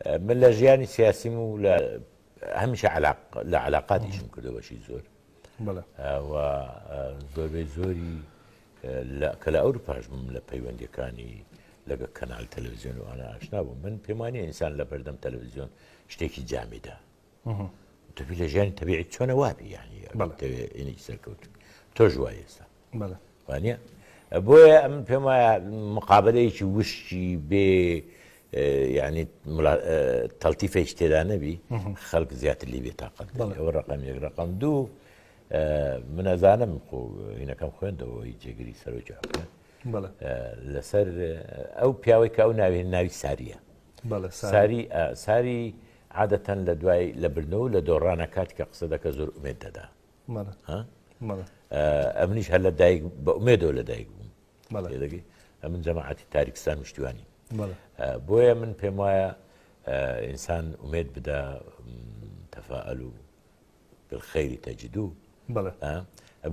من لە ژیانی سیاسیم و لە هەمیشە لە علااقاتیشم کردو بەشی زۆر زۆربەی زۆری کە لە ئەور پاشمم لە پەیوەندەکانی لەگە کەنال تەلەویزیۆن و ئانا ئاشنا بوو من پێمانی ئینسان لە بەردەم تەلەویزیۆن شتێکی جامیدا تەبی لە ژیانی تەبیعی چۆنە وابی یانی سەرکەوت تۆش وای ئێستا وانە بۆیە ئەم پێم وایە مقابلەیەکی وشکی بێ ینی تەلتیفێک تێدا نەبی خەڵک زیاتر لی بێ تااقەت ئەوە ڕقم یەک ڕقم دوو منەزانم خۆ هینەکەم خوێندەوەی جێگری سەرۆکی حکومە لەسەر ئەو پیاوەی کە ئەو ناوێن ناوی ساریە ساری ساری عادەتەن لە دوای لە برنەوە و لە دۆڕانە کاتی کە قسە دەکە زۆر ئومێد دەدا ئەمنیش هەر لە دایک بە ئومێدەوە لە دایک بووم دەگەی ئەمن جەماعەتی تاریکستان وشتیوانی بۆیە من پێم وایە ئینسان ئومێد بدا تەفاعل و خەیری تەجددو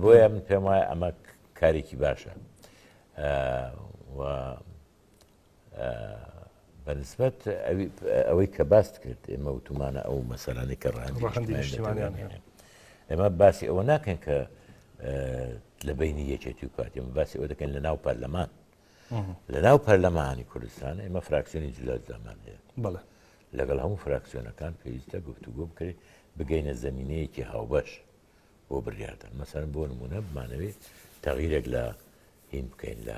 بۆیە من پێم وایە ئەمە کارێکی باشە و بەنسبەت ئەوەی کە باست کرد ئێمە وتومانە ئەو مەسەرانی کە ڕاندیشتمانیان ئێمە باسی ئەوە ناکەن کە لە بینی یەکێتی و پارتی ئەمە باسی ئەوە دەکەن لە ناو پەرلەمان لە ناو پەرلەمانی کوردستان ئێمە فراکسیۆنی جلازدامان هەیە بڵێ لەگەڵ هەموو فراکسیۆنەکان پێویستە گفتوگۆ بکرێت بگەینە زمینەیەکی هاوبەش بۆ بڕیاردان مەسەرم بۆ نمونە بمانەوێت تەغیرێک لە هین بکەین لە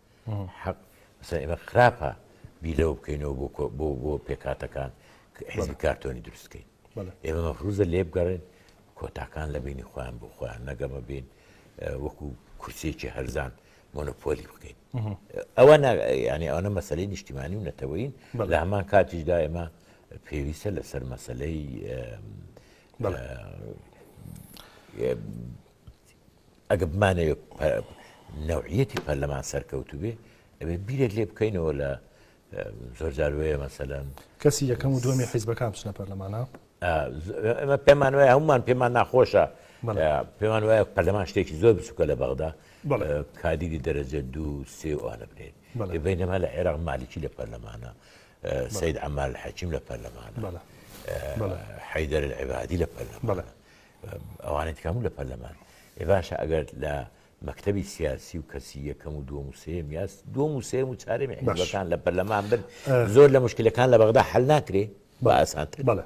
حەق مەسەلەن ئێمە خراپە بیر لەوە بکەینەوە بۆ کۆ- بۆ بۆ پێکهاتەکان ک- حیزبی کارتۆنی دروست بکەین بەڵێ. ئێمە مەفروزە لێ بگەڕێن کۆتاکان لە بینی خۆیان بۆ خۆیان نەگەمە بین اه، وەکو کورسێکی هەرزان مۆنۆپۆلی بکەین ئەوە نا- یعنی ئەوە مەسلەی نیشتیمانی و نەتەوەین بەڵێ. لە هەمان کاتیشدا ئێمە پێویستە لەسەر مەسلەی اه، بەڵێ. اه، ئەگەر بمانەوێت نەوعیەتی پەرلەمان سەرکەوتوو بێ ئەبێ بیرێک لێ بکەینەوە لە زۆرجار وەیە مەسەلەن کەسی یەکەم و دومی حیزبەکان بچنە پەرلەمانە ئەمە پێمان وایە هەمومان پێمان ناخۆشە پێمان وایە پەرلەمان شتێکی زۆر بچووکە لە بەغدا کادیری دەرەجە دوو سێ وانە بنێت بینەما لە عێراق مالیکی لە پەرلەمانە سید ئەمال حەکیم لە پەرلەمانە حیدەر العبادی لە پەرلەمانە ئەوانەی تکام و لە پەرلەمان ئێ باشە ئەگەر لە مەکتتەبی سیاسی و کەسی یەکەم و دووەم و سێم یاس دووەم و سێم و چارێمی حزبەکان لە پەرلەمان بن زۆر لە مشکلەکان لە بەغدا حل ناکرێ بە ئاسانتر بەڵێ